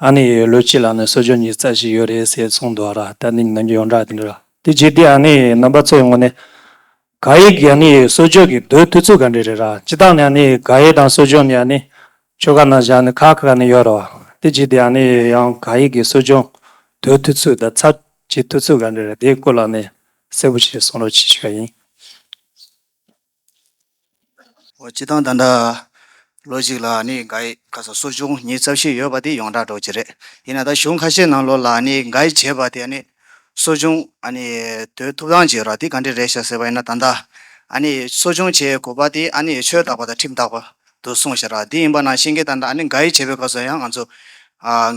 ཨ་ནེ་ཡིས་ལོ་གཅིག་ལ་ནི་གསོལ་ཇོ་གཉིས་རྩ་ཞིག་ཡོད་རེད་ཟེར་གསུངས་འདུག་ཨ་ར་ཏཱ་ནི་ནང་གི་ཡོངས་གྲགས་དེ་འདྲ་རེད། དེ་རྗེས་དེ་ཨ་ནེ་ཡིས་རྣམ་པ་ཚོའི་ངོ་ནས། ག་ཡེ་གི་ཨ་ནེ་ཡིས་གསོལ་ཇོ་གི་རྡོའི་མཐུ་ཚུལ་ག་འདྲ་རེད་ར་སྤྱི་བཏང་ནས་ཨ་ནེ་ཡིས་ག་ཡེ་དང་གསོལ་ཇོ་ནི་ཨ་ནེ། ཁྱོ་ག་ནང་བཞག་ནས་ཁ་ཁ་ག་ནས་ཡོད་ར་བ། དེ་རྗེས་དེ་ཨ་ནེ་ཡིས་ཡང་ག་ཡེ་གི་གསོལ་ཇོ་རྡོའི་མཐུ་ཚུལ་དང་ཚ་བྱི་མཐུ་ཚུལ་ག་འདྲ་རེད་དེའི་སྐོར་ལ་ནས་གསལ་པོ་ཞིག་གསུང་རོགས་བྱེད་ཤེས་པ་ཡིན། ཨོ་སྤྱི་བཏང་ད་ལྟ་ལོ་གཅིག་ལ་ནི་འགའ་ཡི་ག་ས་གསོ་སྦྱོང་ཉིན་རྩ་བཞི་ཡོད་པ་དེ་ཡོངས་གྲགས་གྲོགས་ཀྱི་རེད་ཡིན་ན་ད་གཞུང་ཁ་ཤས་ནང་ལོ་ལ་ནི་འགའ་ཡི་བྱས་པ་དེ་ནི་གསོ་སྦྱོང་ཨ་ནི་དོད་ཐུབ་ཐང་གྱི་ར་དེ་ག་འདྲི་རེད་ཤག་ཟེར་བ་ཡིན་ན་ད་ལྟ་ཨ་ནི་གསོ་སྦྱོང་བྱས་གོ་པ་དེ་ཨ་ནི་ཆོས་བརྟག་པ་དང་ཁྲིམས་བརྟག་པ་དུ་གསུངས་ཞེས་ར་དེ་ཡིན་པ་ན་ཤེས་མཁན་དང་འདྲ་ཨ་ནི་འགའ་ཡི་བྱེད་པའི་སྐབས་སུ་ཡང་ང་ཚོ།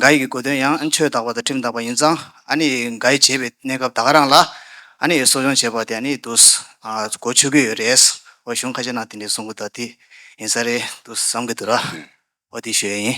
འགའ་ཡི་གི་གོ་དོན་ཡང་ཆོས་དག་པ་དང་ཁྲིམས་དག་པ་ཡིན་ཙང་ཨ་ནི་འགའ་ཡི་བྱེད་པའི་གནས་སྐབས་དག་རང་ལ་ཨ་ནི་གསོ་སྦྱོང་བྱེད་པ་དེ་ཨ་ནི་དུ་གོ་ཆོད་ཀྱི་ཡོད་རེད། འོ་གཞུང་ཁ་ཤས་ནང་དེ་འདྲའི་གསུངས་པ་དག་དེ་ཡིན་ས་རེད་དུ་བསམ་གྱི་འདུག་ར་འོ་དེ་ཞོལ་ཡིན།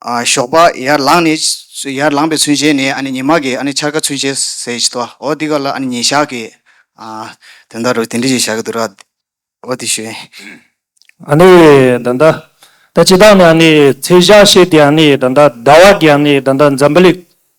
ཞོགས་པ་ཡར་ལངས་ནས། ཡར་ལངས་པའི་ཚུན་ཆད་ནས་ཨ་ནི་ཉི་མ་གིས་ཨ་ནི་འཆར་ཀ་ཚུན་ཆད་ཟེར་གྱི་འདུག་ཨ་འོ་འདི་ག་ལ་ཨ་ནི་ཉིན་ཞག་གི། དོན་དག་རུ་དེ་འདྲི་ཞིག་བྱ་གི་འདུག་ར་འོ་དེ་ཞོན། ཨ་ནི་ད་ལྟ་ད་ཅི་ད་ནི་ཨ་ནི་ཚེས་ཞག་བཤད་དེ་ཨ་ནི་ད་ལྟ་ཟླ་བ་གི་ཨ་ནི་ད་ལྟ་འཛམ་བུ་གླིག་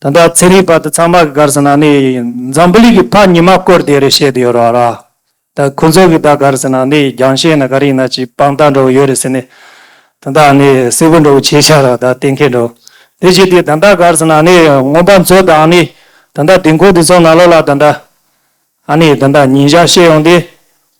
ད་ལྟ་ཚན་རིག་པ་དེ་ཚང་མ་གི་གར་སོང་ན་ནི་འཛམ་བུ་གླིང་གི་ཕ་ཉི་མ་སྐོར་དེ་རེད་བཤད་དུ་ཡོད་རོགས་ར། ད་ཁོ་ཚོ་གི་ད་གར་སོང་ན་ནི་རྒྱང་ཤེལ་ན་ག་རེ་ཡིན་ན་ཅིག་པང་བཏགས་འདྲ་བོ་ཡོད་རེད་ཟེར་ནས། ད་ལྟ་ནི་སིལ་བུ་འདྲ་བོ་བྱས་ཤག་རོགས་ད་གཏན་འཁེལ་འགྲོ། དེ་བཞི་དེ་ད་ལྟ་གར་སོང་ན་ནི་སྔོན་པ་མཚོ་དང་ནི་ད་ལྟ་དེ་འཁོར་དེ་ཚོ་ན་ལོ་ལ་ད་ལྟ། ཨ་ནི་ད་ལྟ་ཉིན་ཞག་ཤེས་ཡོང་དེ།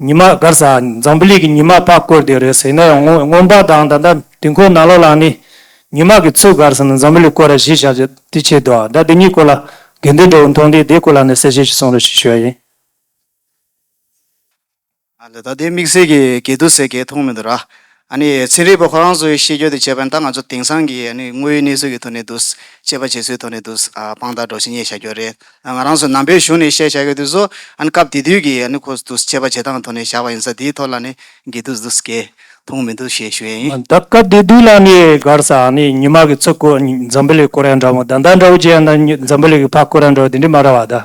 ཉི་མ་སྒར་ས་འཛམ་བུ་གླིག་གི་ཉི་མ་ཕག་བཀོད་དེ་རེད་ཟེར་ན་ཡང་ངོ་ངོམ་པ་དང་ད་ལྟ་དུས་འཁོར་ནང་ལོག་ལ་ནི་ཉི་མ་གི་ཚུལ་སྒར་ས་ནི་འཛམ་བུ་གླིག་བཀོད་ར་གཞི་བཞག་རྒྱུ་དེ་ཆེས་དོ་ཨ་ད་དེ་གཉིས་སྐོར་ལ་དགེ་འདུན་གྲོགས་པོ་མཐོང་དུས་དེའི་སྐོར་ལ་ནི་གསལ་བཤད་ཞིག་གསུང་རོགས་ཞེས་ཞུ་བ་ཡིན། ད་ལྟ་དེ་དམིགས་བསལ་གྱི་འགལ་འདུ་ཟེར་གལ་མཐོང་མི་འདུག་ར། ཨ་ནི་ཚན་རིག་པ་ཁོ་རང་ཚོའི་ཤེས་འཇོན་དུ་བྱས་པ་ནི་ད་ང་ཚོ་དེང་སང་གི་ཨ་ནི་དངོས་ཡོད་གནས་ཚུལ་གྱི་ཐོག་ནས་འདུག་དཔྱད་པ་བྱེད་ཚུལ་ཐོག་ནས་འདུག་དཔང་རྟགས་སྒྲོག་ཤིང་རྙེད་བྱ་རྒྱུ་རེད། ང་རང་ཚོ་ནང་པའི་གཞུང་ནས་བཤད་བྱ་ཡོད་དུས་སུ་ཨ་ནི་སྐབས་དེ་དུས་ཀྱི་ཨ་ནི་ཁོ་འདུག་དཔྱད་པ་བྱེད་སྟངས་ཐོག་ནས་བཞག་པ་ཡིན་ས་དེའི་ཐོག་ལ་ནི་འགལ་འདུ་འདུག་འགལ་འཐུང་མི་འདུག་ཞེས་ཞུ་ཡ་ཡིན། ད་སྐབས་དེ་དུས་ལ་ནི་སྒར་ས་ཨ་ནི་ཉི་མ་གི་ཚུ་ཀོ་འཛམ་བུ་ལི་ཀོ་རན་འདྲ་མོ་ད་ཟླ་འདྲ་བོ་རྗེས་ཨ་ནི་འཛམ་བུ་ལི་གི་ཕ་ཀོ་རན་འདྲ་བོ་དེ་འདྲི་མ་ར་བ་ད།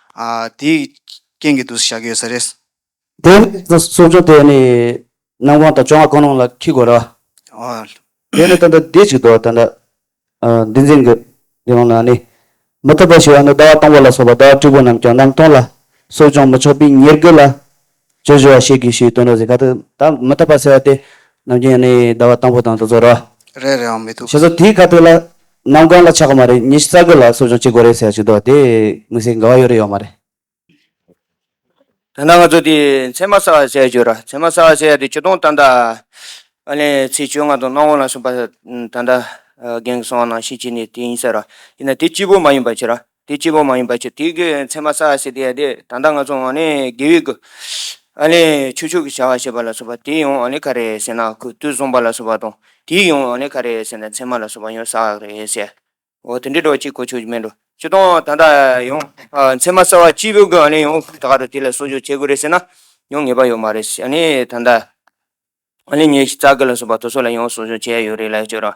དེའི་རྐྱེན་གྱིས་དུས་སུ་བཞག་གི་ཡོད་ས་རེད། དེ་ནས་གསུང་ཆུང་དེ་ནི་ནང་དབང་དང་བཅོ་ལྔ་ཁོང་རང་ལ་འཁྲིད་དགོས་ར། དེ་ནི་ད་ལྟ་འདི་ཅིག་ཏུ་ད་ལྟ་འདི་འཛིན་དགོས། དེ་ཡོང་ན་ནི་མི་ཐུབ་པ་ཞིག་ཡང་འདུག་ཟླ་བ་སྟོང་པོ་ལ་སོགས་པ་ཟླ་བ་དྲུག་པོ་རྣམས་ཀྱང་གནམ་སྟོང་ལ་གསོ་སྦྱོང་མི་ཆོག་པའི་ཉེར་དགུ་ལ་ཅོ་ཅོ་བ་ཤེས་གི་ཞེས་སྟོན་རོགས་ཟེར་ག་ཏུ། བདག་མི་ཐོབ་པ་ཟེར་བ་སྟེ། ནམ་རྒྱུན་ཡང་ནི་ཟླ་བ་དང་པོ་དང་དུ་ཚོད་རོ། རེ་རེའང་མི་ཐུབ། ཞེས་སོ། དེས་ག་ཏུ་ལ། གནམ་གང་ལ་ཆགས་གི་མ་རེད་ཉི་ཤུ་རྩ་དགུ་ལ་གསོ་སྦྱོང་བྱེད་དགོས་རེད་ཟེར་བ་ཞིག་འདུག་དེ་མི་སེར་འགའ་བ་ཡོད་རེད་ཡོད་མ་རེད། ད་ནངས་ཚོ་དེ་མཚན་མ་གསར་བ་བྱས་ཡོད་ར་མཚན་མ་གསར་བ་བྱས་ཡ་དེ་བཅུ་སྟོང་ཏག་ཏག་ཨ་ལས་ཚེས་བཅོ་ལྔ་དང་གནམ་འོག་ལ་སོང་པ་ད་ལྟ་རྒན་གི་སོང་བ་ནང་བཞིན་བྱས་ནས་དེ་ཡིན་ཟེར་ར་དེ་ན་དེ་སྐྱིད་པོ་མ་ཡིན་པ་ཁྱེད་ར་དེ་སྐྱེས་བུ་མ་ཡིན་པ་ཆེ་དེའི་གེགས་ཡོད་མཚན་མ་བསལ་བ་སྲིད་དེ་ཡང་དེ་ད་ལྟ་ང་ཚོ་འོང་ནས་དགེ་བའི་སྐུ། ཨ་ལས་ཆུ་ཆུག་གི་བྱ་བ་བྱེད་པ་ལ་སོགས་པ་དེའི་ཡོང་བ་ནི་ག་རེད་ཟེར་ན་ཁུ་དུས་བཟུང་བ་ལ་སོགས་པ་དང་དེའི་ཡོང་བ་ནི་ག་རེད་ཟེར་ན་མཚན་མ་ལ་སོགས་པ་ཡོང་ས་རེད་ཟེར། འོ་དེ་འདྲའི་སྒྲོག་ཅིག་གོ་ཆོད་ཀྱི་མེད་འགྲོ་ཅི་དང་ད་ལྟ་ཡོང། མཚན་མ་བསལ་བ་སྐྱེས་བུའི་སྐུ་ཨ་ལས་ཡོང་ད་ག་རུ་དེ་ལ་གསོ་བཅོས་བྱེད་དགོས་རེད་ཟེར་ན་ཡོང་ངེས་པ་ཡོད་མ་རེད་ཟེར་ནས་ད་ལྟ། ཨ་ལས་ཉེས་བྱས་རྩ་དགེ་ལ་སོགས་པ་དོ་སོ་ལ་ཡོང་གསོ་བཅོས་བྱས་ཡོད་རེད་ལ་ཡོད་ཅོ་རང།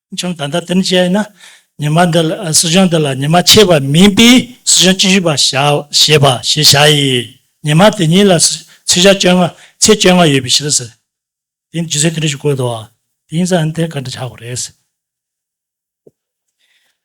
ཅུང་ད་ལྟ་དེར་བྱས་ན་ཉི་མ་འདི་ལ་སྲིད་གཞུང་འདི་ལ་ཉི་མ་ཕྱེད་པ་མིན་པས་སྲིད་གཞུང་བཅུ་བཞི་པ་ཞེས་པ་ཞེས་བྱ་ཡི། ཉི་མ་དེ་ཉིད་ལ་ཚེས་ཞག་བཅོ་ལྔ་ཚེས་བཅོ་ལྔ་ཡོད་པའི་ཕྱིར་ཟེར། དེ་ནི་ཇི་སྲིད་དུ་རེ་ཞིག་བཀོད་དོ། དེ་ཡིན་ཙང་དེ་ག་འདྲ་ཆགས་པ་རེད།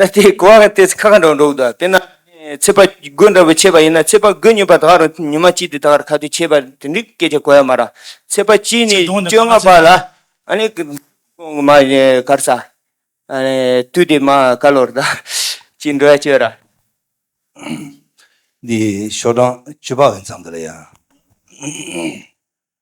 ད་ལྟའི་གོ་བ་དེ་ཚེ་ཁ་ཁ་འགྲོག་འགྲོག་དང་དེ་ན་ཚེ་དཔའ་རྒོད་འདྲ་བོ་ཆད་པ་ཡིན་ན་ཚེ་དཔའ་རྒོད་ཉོས་པ་དག་རུང་ཉི་མ་གཅིག་དེ་དག་རུ་ཁ་ཐུག་ཆད་པ་དེ་འདྲའི་སྐད་ཆ་གོ་ཡ་མ་ར། ཚེ་དཔའ་གཅིག་ནས་བཅོ་ལྔ་བར་ལ་ཨ་ནི་མ་གར་ས་ཨ་ནི་དུས་དེ་མ་ག་ལོར་ད་ཅི་འགྲོ་ཡ་བཅོས་ར། འདི་ཞོ་གྲངས་བཅུ་པ་འོན་ཙང་འདི་ལ་ཡང།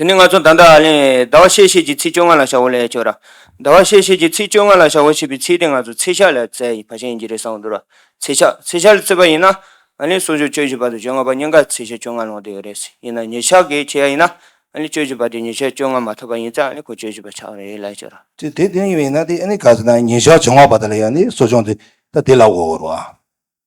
དེ་ནས་ང་ཚོ་ད་ལྟ་ཨ་ལན། ཟླ་བ་ཤེད་ཤེད་ཀྱི་ཚིག་བཅོ་ལྔ་ལ་ཞག་འོ་ལས་བཅོ་ར། ཟླ་བ་ཤེད་ཤེད་ཀྱི་ཚིག་བཅོ་ལྔ་ལ་ཞག་འོ་ཞེས་པའི་ཚིག་དེ་ང་ཚོ་ཚེ་ཞག་ལ་བཙལ་ཡི་བ་ཞེན་གྱི་རེད་བསམ་བློ་འདོར་བ། ཚེ་ཞག་ཚེ་ཞག་ལ་བཙལ་བ་ཡིན་ན། ཨ་ལན་སོ་སོའི་བཅོ་བཞི་བ་དང་བཅོ་ལྔ་བ་སྙིང་གར་ཚེ་ཞག་བཅོ་ལྔ་ལོངས་དེ་ཡོད་རེད། ཡིན་ན་ཉི་ཞག་གིས་བྱས་ཡིན་ན། ཨ་ལན་བཅོ་བཞི་བ་དེ་ཉི་ཞག་བཅོ་ལྔ་མ་ཐོབ་པ་ཡིན་ཚེ་ཨ་ལན་ཁོ་བཅོ་བཞི་བ་ཆགས་རེད་ལས་བཅོ་ར། དེ་དེ་དོན་ཡིན་པ་ཡིན་ན་དེ་ཨ་ལན་ག་ཚོད་ན་ཉི་ཞག་བཅོ་ལྔ་བ་དག་ལ་ཡང་ནི་གསོ་སྦྱོང་དེ་ད་དེ་ལ་འོ་བར་བ།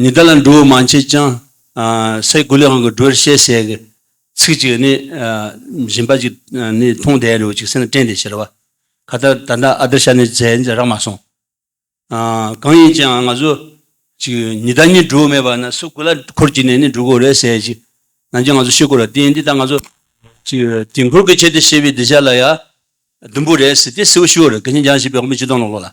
ཉི་ཟླ་ལ་འགྲོ་བོ་མ་མཆིས་ཀྱང། སའི་དགུ་ལས་དབང་གི་འགྲོ་བར་བཤད་ཟེར་གྱི། ཚིག་ཅིག་ནི། བཞིན་པ་ཅིག་ནི་མཐོང་དད་རེའུ་ཅིག་སེམས་ལ་དྲན་ཏེ་ཞེས་ལ་བ། ཁ་བརྡ་ད་ལྟ་ཨ་བརྡར་ཤར་ནས་རྫས་འདི་རག་མ་སོང། གང་ཡིན་ཅིའང་ང་ཚོ། ཅིག་ཉི་ཟླ་གཉིས་འགྲོ་བོ་མེད་པ་ན་སའི་དགུ་ལ་འཁོར་གྱི་ནས་ནི་འགྲོ་དགོས་རེད་ཟེར་གྱི། ནང་ཆོས་ང་ཚོ་ཤེས་དགོས་རེད་དེ་ཡིན་དེ་ལྟར་ང་ཚོ། ཅིག་དུས་འཁོར་གྱི་ཆེད་དུ་ཤེས་པའི་སྡིག་བཤགས་ལ་ཡང། ཟླུམ་པོ་རེད་ཟེར་དེ་སེའུ་ཤུ་བོ་རེད་གལ་ཆེན་རྒྱང་བཞེས་པའི་དབང་པོ་སྤྱི་སྟོང་ལོག་ལོག་ལ།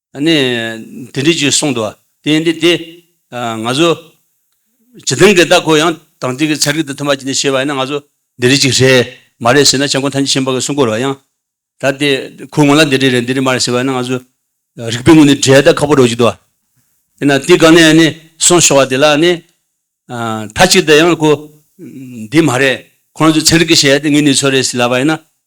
ནས་དེ་འདྲས་ཀྱིས་གསུངས་འདུག་དེ་ཡིན་དུས་དེ། ང་ཚོ། ཇི་ཐང་གི་བདག་ཁོ་ཡང་དང་ཐིག་གི་ཚལ་གྱི་དུ་ཐུམ་པ་གྱིས་ནས་ཤེས་པ་ཡིན་ན་ང་ཚོ། འདི་འདྲས་ཅིག་རེད་མ་རེད་ཟེར་ན་བྱང་ཁོང་ཐང་ཆེན་ཆེན་པོ་གི་སྲུང་འཁོར་བ་ཡང། ད་དེ་ཁོའི་ངོ་ལ་འདི་འདྲས་རེད་འདི་འདྲས་མ་རེད་ཟེར་བ་ཡིན་ན་ང་ཚོ། རིག་པའི་ངོས་ནས་བྲལ་ད་ཁག་པོ་འགྲོ་གྱི་འདུག་དེ་ན་དེ་ག་ནས་ནི་སོང་ཤོག་བ་དེ་ལ་ནི། མཐའ་གཅིག་ཏུ་ཡང་ཁོ། འདི་མ་རེད་ཁོང་ཚོས་ཚན་རིག་གི་བྱས་ཡ་དེ་ངའི་ནུས་ཚོད་རེད་ཟེར་ལབ་པ་ཡིན་ན།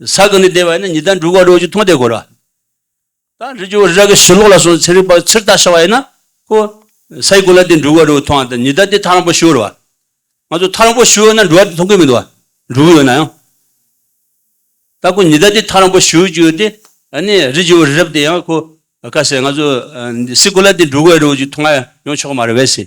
ས་གང་ནས་བདེ་བ་ཡིན་ན་ཉི་ཟླ་འབྲུག་བ་རོ་གཅིག་མཐོང་བདེ་གོ་ར། ད་རི་རྒྱུ་བ་ར་གི་ཞི་ལོག་ལ་སོང་ཚེ་རི་བག་ཕྱིར་བལྟ་ཤ་བ་ཡིན་ན་ཁོ། ས་ཡི་གོ་ལ་དེ་འབྲུག་བ་རོ་མཐོང་བ་དང་ཉི་ཟླ་དེ་ཐག་རིང་པོ་ཞུ་བར་བ། ང་ཚོ་ཐག་རིང་པོ་ཞུ་ཡོད་ན་འབྲུག་བ་དེ་མཐོང་གི་མི་འདུག་བ། འབྲུག་ཡོད་ན་ཡང། ད་ཁོ་ཉི་ཟླ་དེ་ཐག་རིང་པོ་ཞུ་གི་ཡོད་དེ། ད་ནི་རི་རྒྱུ་བ་རབ་དེ་ཡང་ཁོ། ཁ་ཟེར་ང་ཚོ། སི་གོ་ལ་དེ་འབྲུག་བ་རོ་གཅིག་མཐོང་ཡོང་ཆོག་གི་མ་རེད་བས་སི།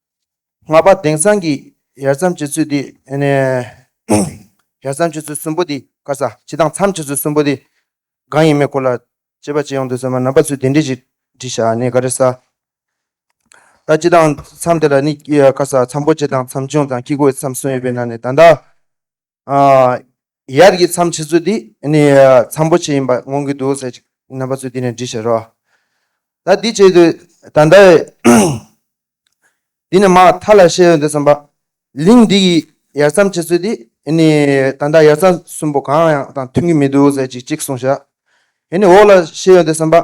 ལྔ་པ་དེང་སང་གི་ཡར་མཚམས་བྱེད་ཚུལ་འདི། ཡར་མཚམས་བྱེད་ཚུལ་གསུམ་པོ་འདི་དཀར་ས་ཅི་དང་མཚམས་བྱེད་ཚུལ་གསུམ་པོ་འདི་གང་ཡིན་མེད་སྐོར་ལ་དཔྱད་པ་བྱེད་ཡོང་འདོད་ཚོད་མ་ནམ་པ་ཚོས་དེ་འདྲི་ཞིག་འདྲི་ཞག་ནི་ག་རེ་ས་ད་ཅི་དང་མཚམས་དེ་ལ་ནི་དཀར་ས་མཚམས་པོ་ཅི་དང་མཚམས་ཆུང་དང་དཀྱིལ་འཁོར་མཚམས་གསུམ་ཡོད་པའི་ནང་ནས་ད་ལྟ། ཡབ་ཀྱི་མཚམས་ཕྱེད་ཚུལ་འདི་ནི་མཚམས་པོ་ཆེ་ཡིན་པ་མངོན་གྱི་འདུག་ཟེར། རྣམ་པ་ཚུལ་འདི་ནི་འདྲི་ཞེས་རོ། ད་འདི་བྱེད་དུ་ད་ལྟ་བས། འདི་ནི་མ་མཐའ་ལ་ཤེས་ཡོན་འདི་གསུམ་པ། ལིང་འདི་ཡི་ཡར་མཚམས་ཕྱེད་ཚུལ་འདི་ནི་ད་ལྟ་ཡར་མཚམས་གསུམ་པོ་གང་ཡང་དང་མཐུན་གྱི་མི་འདུག་ཟེར་ཅིག་གཅིག་གསུངས་ཤག། ཡེ་ནས་འོག་ལ་ཤེས་ཡོན་འདི་གསུམ་པ།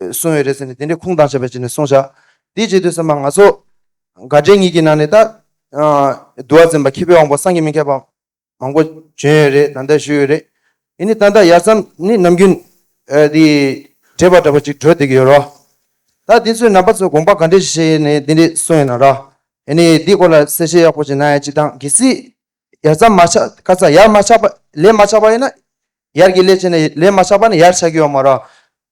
གསུང་ཡོད་རེད་ཟེར་ནས་དེ་འདྲའི་ཁུངས་དང་ཆད་པ་བྱས་ནས་གསུང་བཞག་དེའི་རྗེས་ཟློས་ཟེར་མ་ང་ཚོ་དགའ་འབྲས་གཉིས་ཀྱི་ནང་ནས་ད་འདུལ་བ་འཛིན་པ་མཁས་པའི་དབང་པོ་སངས་རྒྱས་མི་མཁས་པ་མང་པོ་བྱོན་ཡོད་རེད་ད་ལྟ་ཞུས་ཡོད་རེད་དེ་ནི་ད་ལྟ་ཡར་མཚམས་ནི་ནམ་རྒྱུན་དེ་འདྲེས་པ་འདྲ་པོ་ཅིག་གྲོལ་འདེད་ཀྱི་ཡོད་རོ། ད་འདི་ཚོའི་ནང་པ་ཚོས་དགོངས་པ་ག་འདྲས་བཞེས་ནས་འདི་འདྲས་གསུང་ཡོད་ན་ར། ཡེ་ནས་འདི་སྐོར་ལ་གསལ་བཤད་ཡག་པོ་ཅིག་གནང་ཡ་ཅིག་དང་གལ་སྲིད་ཡར་མཚམས་མ་ཆགས་ཁ་ཚ་ཡར་མ་ཆགས་པ་ལས་མ་ཆགས་པ་ཡིན་ན་ཡར་གྱི་ལས་བྱས་ནས་ལས་མ་ཆགས་པ་ནི་ཡར་ཆགས་ཀྱི་ཡོད་མ་ར།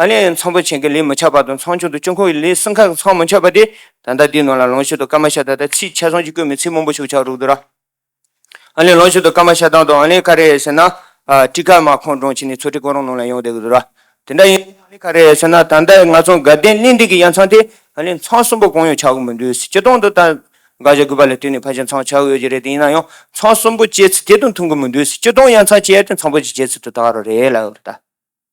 ཨ་ལས་ཚོང་པོ་ཆེན་གྱི་ལས་མི་ཆགས་བར་དུ་ཚོང་ཆུང་དུ་སྤྱི་ཁོག་གི་ལས་སྲིང་ཁག་གི་ཚོང་མི་ཆགས་པ་དེ་ད་ལྟ་དེའི་ནང་ལ་ལོངས་སྤྱོད་དུ་སྐར་མ་ཤ་ད་དང་ཚིག་ཆ་ཚང་གཅིག་བཀོད་མེད་ཚིག་མང་པོ་ཞུགས་ཆགས་རུག་དུ་ར། ཨ་ལས་ལོངས་སྤྱོད་དུ་སྐར་མ་ཤ་ཏང་དང་ཨ་ལས་ཁ་རས་ཟེར་ན། ཀྲི་ཀར་མ་ཁོང་གྲོང་ཁྱེར་ནས་ཚོ་ཁྲི་ཁོང་རང་ནང་ལ་ཡོང་བསྡད་གི་རུག་ར། དེ་འདྲ་ཡིན་ན་ཨ་ལས་ཁ་རས་ཟེར་ན་ད་ལྟ་ང་ཚོ་དགའ་ལྡན་གླིང་སྟེང་གི་ཡང་ཚང་དེ་ཨ་ལས་ཚང་གསུམ་པོ་གང་ཡང་ཆགས་གི་མི་འདུག་སྤྱི་སྟོང་དུ་ད་དགའ་བཞག་དགོས་པ་ལས་དུས་ནས་ཕར་ཕྱིན་ཚང་ཆགས་གི་ཡོད་ཀྱི་རེད་དེ་ཡིན་ན་ཡང་ཚང་གསུམ་པོ་སྤྱད་ཚུལ་དེ་དང་མཐུན་གི་མི་འདུག་སྤྱི་སྟོང་ཡང་ཚང་སྤྱད་དེ་ཚང་པོ་ཅིག་སྤྱད་ཚུལ་དུ་ད་ག་རུ་རེད་ལ་ཨོ་རེད་ད།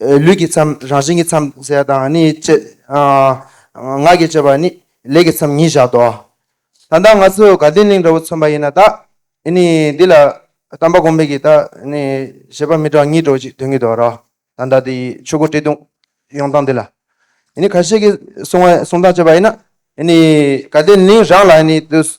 ལུས་ཀྱི་མཚམས་རང་བཞིན་གྱི་མཚམས་ཟད་དང་ནི་བཅས། ངག་གིས་བཅས་པ་ནི་ལས་ཀྱི་མཚམས་ཉིད་བཞག་ཏོ། ད་ལྟ་ང་ཚོས་དགའ་ལྡན་གླིང་འདྲ་བོ་མཚོན་པ་ཡིན་ན་ད་ནི་འདི་ལ་དམ་པ་གོང་འཕེལ་གྱིས་ད་ནི་བཞེད་པ་མི་གྲངས་གཉིས་སྒྲོག་ཅིག་དོན་གྱིས་དོ་རོགས་དང་ད་ནི་ཆོས་སྐུ་བཀྲེས་ལྟུང་ཡོང་སྟངས་འདི་ལ་ནི་ཁ་ཤས་ཀྱིས་གསུང་བ་གསུང་སྟངས་བཅས་པ་ཡིན་ན་ནི་དགའ་ལྡན་གླིང་རང་ལ་ནི་དུས་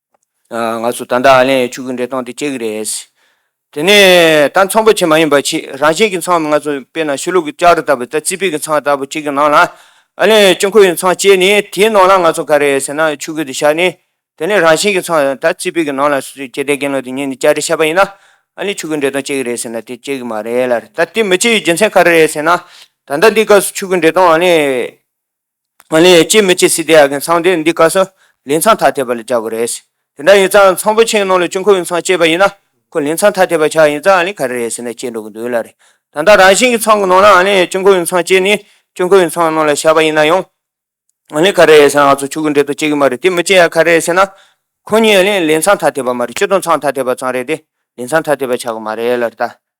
ང་ཚོ་ད་ལྟ་ཨ་ལན་ཡའི་ཕྱུགས་ཀྱི་འདྲེ་སྟོང་དེ་སྐྱེ་གི་རེད། དེ་ནས་ད་ཚོང་པ་ཆེ་མ་ཡིན་པ་ཆེ་རང་བཞིན་གྱི་ཚོང་ང་ཚོ་དཔེར་ན་ཤུ་ལུག་གི་ལྕགས་རི་ལྟ་བུ་ད་རྩིས་སྤེལ་གྱི་ཚོང་ལྟ་བུ་གཅིག་གི་ནང་ལ་ཨ་ལན་ཡའི་སྤྱི་འཁོར་ཡི་ཚོང་བཅས་ནས་དེའི་ནང་ལ་ང་ཚོ་ག་རེད་ཟེར་ན་ཕྱུགས་ཀྱི་དེ་བཞག་ནས་དེ་ནས་རང་བཞིན་གྱི་ཚོང་ད་རྩིས་སྤེལ་གྱི་ནང་ལ་སྐྱེ་དེ་རྒན་ལོ་དེ་ཉིན་ནས་ལྕགས་རི་ཆད་པ་ཡིན་ན་ཨ་ལན་ཕྱུགས་ཀྱི་འདྲེ་སྟོང་སྐྱེ་གི་རེད་ཟེར་ན་དེ་སྐྱེ་གི་མ་རེད་ལ་ད་དེ་མི་སྐྱེ་ཡི་རྒྱུ་མཚན་ག་རེ་རེད་ཟེར་ན་ད་ལྟ་འདི་སྐབས་སུ་ཕྱུགས་ཀྱི་འདྲེ་སྟོང་ཨ་ལན། ང་ལས་ཡས་ཅི་མི་བྱེད་སྲིད་དེ་ཡག་གི་མཚང་དེ་འདི་ཀ་སོ་ལས་མཚང་ཐ་དད་པ་ལ་རྒྱག་གི་རེད། དེ་འདྲ་ཡིན་ཙང་མཚང་པོ་ཆེའི་ནང་ལ་ཅུང་ཁོ་བོའི་མཚང་བཅད་པ་ཡིན་ན་ཁོ་ལས་མཚང་ཐ་དད་པ་ཆགས་ཡིན་ཙང་ཨ་ལས་ག་རེ་རེད་ཟེར་ན་བཅད་འགྲོ་གི་འདུག་ལ་རེད། ད་ལྟ་རང་བཞིན་གྱི་མཚང་གི་ནང་ན་ཨ་ལས་ཡས་ཅུང་ཁོ་བོའི་མཚང་བཅད་ནས་ཅུང་ཁོ་བོའི་མཚང་ནང་ལ་བཞག་པ་ཡིན་ན་ཡང། ཨ་ལས་ག་རེ་རེད་ཟེར་ན་ང་ཚོ་ཕྱུག་གི་འགྲེལ་དུ་བཅད་གི་མ་རེད་དེ་མི་བཅད་ཡ་ག་རེ་རེད་ཟེར་ན། ཁོ་གཉིས་ཨ་ལས་ལས་མཚང་ཐ་དད་པ་མ་རེད་སྤྱི་དོན་མཚང་ཐ་དད་པ་ཙང་རེད་དེ་ལས་མཚང་ཐ་དད་པ་ཆགས་གི་མ་རེད་ལ་རེད་ད།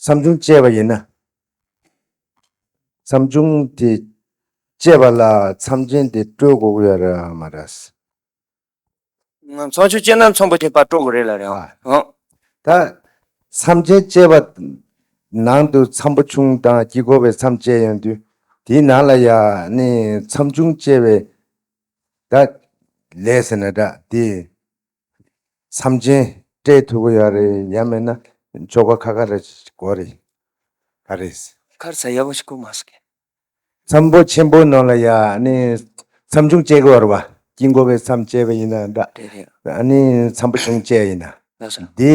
བསམ་བྱུང་བཅས་པ་ཡིན་ན། བསམ་བྱུང་དེ་བཅས་པ་ལ་མཚམས་ཅན་དེ་སྤྲོད་དགོས་ཀྱི་ཡོད་རེད་མ་རེད། མཚམས་བྱུང་བཅས་ན་ཚོམ་བུ་དེ་པར་སྤྲོད་དགོས་རེད་ལ་རེད་ཨང། ད། མཚམས་ཅན་བཅས་པ་ནང་དུ་མཚམས་བུ་ཆུང་དང་དཀྱིལ་འཁོར་བའི་མཚམས་བཅས་ཡོད་དུས་དེའི་ནང་ལ་ཡང་ནི་མཚམས་བྱུང་བཅས་པའི་སྒྲ་ལས་ཟེར་ན་སྒྲ་དེ་མཚམས་ཅན་སྤྲད་ཐུབ་ཀྱི་ཡོད་རེད་ཡ་མེད་ན་ཆོ་ག་ཁ་ཁ་རེད་དགོས་རེད་ག་རེད། ཁར་ས་ཡག་པོ་ཞིག་ཁུར་མ་སོང་ཁྱེད། མཚམས་པོ་ཆེན་པོ་ནང་ལ་ཡ་ནི་མཚམས་ཆུང་བཅད་གི་ཡོད་རེད་བ་དཀྱིལ་འཁོར་བའི་མཚམས་བཅད་པ་ཡིན་ན་འདྲ། རེད་རེད། ཡ་ནི་མཚམས་པོ་ཆུང་བཅད་ཡིན་ན། ལགས་སོ། འདི།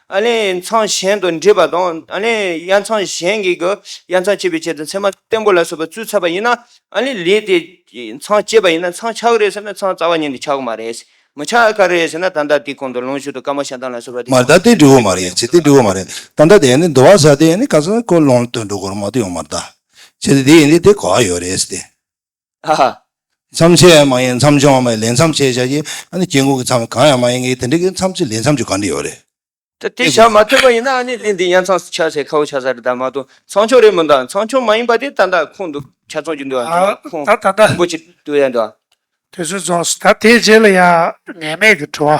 ཨ་ལས་ཚང་གཞན་དུ་འདྲིས་པ་དང་ཨ་ལས་གཡའ་ཚང་གཞན་གྱི་གཡའ་ཚང་བཅད་པའི་ཆེད་དུ་མཚན་མ་བརྟན་པོ་ལ་སོགས་པ་བཙུད་ཚར་བ་ཡིན་ན་ཨ་ལས་ལས་དེ་ཚང་བཅད་པ་ཡིན་ན་ཚང་ཆག་གི་རེད་ཟེར་ན་ཚང་རྩ་བ་ཉིད་ནས་ཆག་གི་མ་རེད། མི་ཆག་གི་རེད་ཟེར་ན་ད་ལྟ་དེའི་གོང་དུ་ལོངས་སྤྱོད་དུ་དཀར་མོ་ཞག་འདང་ལ་སོགས་པ་དེ་མ་གཏོགས་དེ་འགྲིག་གི་མ་རེད་ཅེས་དེ་འགྲིག་གི་མ་རེད་ད་ལྟ་དེ་ནི་འདུ་བ་ཟ་དེ་ནི་ག་ཚོད་ཁོ་ལོངས་སྤྱོད་དུ་འགྲོ་གི་རེད་མ་གཏོགས་ཡོང་མ་རེད་ད་ཅེས་དེ་འདི་ཡིན་དེ་དེ་གོ་བ་ཡོད་རེད་ཟེར་ཏེ། ཨ་ཧ། མཚམས་ཆད་མ་ཡིན་མཚམས་སྦྱོང་བ་མ་ཡིན་ལས་མཚམས་ཆད་བྱ་གྱི། ཨ་ནི་སྐྱེ་འགོག་གི་མཚམས་གང་ཡང་མ་ཡིན་གྱི་དེ་འདྲའི་གི་མཚམས་ཆད་ལས་མཚམས་ཆད་གང་འདྲ་ཡོད་རེད། ད་དེ་བྱ་མ་ཐུབ་པ་ཡིན་ན་ཨ་ནི་གླིང་འདི་ཡར་མཚམས་སུ་ཆགས་ཚེ་ཁ་བོ་ཆགས་ས་རེད་ད་མ་གཏོགས་མཚམས་སྦྱོང་རེད་མི་འདུག་ཨ་མཚམས་སྦྱོང་མ་ཡིན་པ་དེ་ད་ད་ཁོང་འདུག་ཆ་ཚང་གྱི་འདུག་ཨ་ཁོང་ད་ད་ད་ཁོང་འགོ་ཆེ་འདུག་ཡ་འདུག་ཨ། དེ་ཚོའི་རྫོགས་སོ་ད་དེའི་རྗེས་ལ་ཡང་ངེས་མེད་ཀྱི་བྲོ་བ།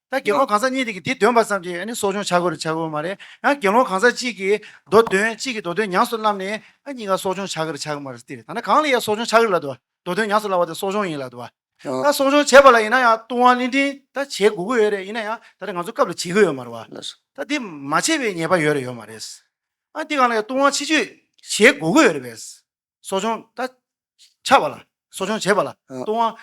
ད་དགེ་སློང་གང་ཟག་གཉིས་དེ་གིས་དེ་འདོན་པར་བསམས་ཀྱིས་གསོ་སྦྱོང་བྱ་དགོས་རེ་བྱ་དགོས་མ་རེད། ཡང་དགེ་སློང་གང་ཟག་གཅིག་གིས་མདོ་འདོན་གཅིག་གིས་མདོ་འདོན་ཉམས་སུ་བླངས་ནས་གཉིས་ཀ་གསོ་སྦྱོང་བྱ་དགོས་རེ་བྱ་གི་མ་རེད་ཏེ། ད་ནི་གང་ལ་ཡང་གསོ་སྦྱོང་བྱ་གི་ལ་དུ་མདོ་འདོན་ཉམས་སུ་བླང་བ་དེ་གསོ་སྦྱོང་ཡིན་ལ་དུ། ད་གསོ་སྦྱོང་བྱེད་པ་ལ་ཡིན་ན་ཡང་ལྟུང་བ་གླིང་ཕྲན་ད་བྱེད་དགོས་ཀྱི་ཡོད་རེད་ཡིན་ན་ཡང་ད་རེས་ང་ཚོ་སྐབས་ལ་བྱེད་ཀྱི་ཡོད་མ་རེད་བ། ད་དེ་མ་བྱས་པའི་ཉེས་པ་ཡོད་རེ་ཡོད་མ་རེད། ཨ་འདི་གང་ལ་ཡང་ལྟུང་བ་ཕྱི་བཅོས་བྱེད་དགོས་ཀྱི་ཡོད་རེད་བས། གསོ་སྦྱོང་ད་ཆ་བ་ལ་གསོ་སྦྱོང་བྱེད་པ་ལ་ལྟུང་བ་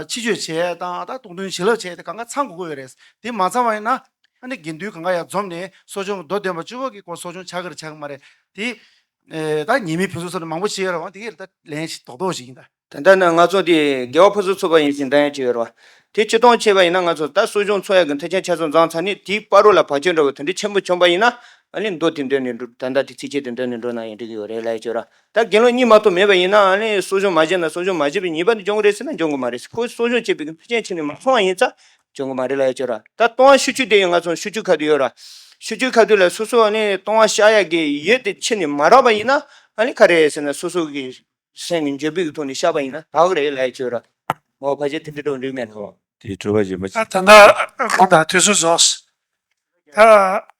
ཕྱི་བཅོས་བྱས་དང་ད་ལྟུང་དོན་བྱིན་རླབས་བྱས་དེ་གང་ག་ཚང་དགོས་ཀྱི་ཡོད་རེད་དེ་མ་ཚང་བ་ཡིན་ན་ཨ་ནི་དགེ་འདུན་གང་ག་ཡང་འཛོམས་ནས་གསོ་སྦྱོང་མདོ་བདུན་པ་བཅུ་བ་ཀྱི་སྐོར་གསོ་སྦྱོང་བྱ་གི་རེད་བྱ་གི་མ་རེད་དེ་ད་ཉེས་མེད་ཕུན་སུམ་ཚོགས་ནས་མང་པོ་བྱས་ཡོད་རང་དེ་གའི་ད་ལན་ཞིག་རྡོག་རྡོག་ཞིག་ཡིན་ད། ད་ལྟ་ན་ང་ཚོ་དེ་དགེ་བ་ཕུན་སུམ་ཚོགས་པ་ཡིན་ཞིང་ད་ཡང་བྱས་ཡོད་རེད་དེ་སྤྱི་སྟོང་བྱས་པ་ཡིན་ན་ང་ཚོ་ད་གསོ་སྦྱོང་འཚོགས་ཡག་གི་མཐའ་ཆེན་ཆ་ཚང་བརྫངས་ཚར་ནས་དེའི་པར་རོ་ལ་བག་ཆགས་འགྲོ་བའི་དོན་འབྲས་ཆེན་པོ་བྱུང་པ་ཡིན་ན་ཨ་ལེ་མདོ་དེ་འདོན་ནས་འགྲོ་ད་ལྟ་དེ་ཚིགས་བཅད་དེ་འདོན་ནས་འགྲོ་ན་ཡང་འགྲིག་གི་ཡོད་རེད་ལ་ཡིན་ཆོས་ར་ད་དགེ་སློང་གཉིས་མ་གཏོགས་མེད་པ་ཡིན་ན་ཨ་ལེ་གསོ་སྦྱོང་མ་བྱས་ན་གསོ་སྦྱོང་མ་བྱས་པའི་ཉེས་པ་འདི་འཇོག་གི་རེད་ཟེར་ན་འཇོག་གི་མ་རེད་ཟེར་ཁོས་གསོ་སྦྱོང་བྱས་པའི་ཤུགས་རྐྱེན་ཕྱིན་ནས་མ་སོང་བ་ཡིན་ཙང་འཇོག་གི་མ་རེད་ལ་ཡིན་ཆོས་ར་ད་སྟོང་བ་ཤུ་ཆུ་དེ་ཡང་ང་ཚོ་ཤུ་ཆུ་ཁ་དུད་ཡོད་ར་ཤུ་ཆུ་ཁ་དུད་ལ་སོ་སོ་ཨ་ལེ་སྟོང་བ་ཤ་ཡག་གི་ཡོད་དེ་ཕྱིན་ནས་མ་རག་པ་ཡིན་ན་ཨ་ལེ་ག་རེད་ཟེར་ན་སོ་སོ་གི་སེམས་ཀྱི་འཇོན་པིག་གི་ཐོག་ནས་བཤགས་པ་ཡིན་ན་དག་རེད་ལ་ཡིན་ཆོས་ར་མོའོ་ཕ་ཆེ་དེ་འདྲི་དྲོ་འགྲིག་མེད་ལ། དེ་གྲོལ་བ་བྱེད་མ། ད་ད་ལྟ་ཁོང་དང་དུས་ཚོད་རྫོགས། ད།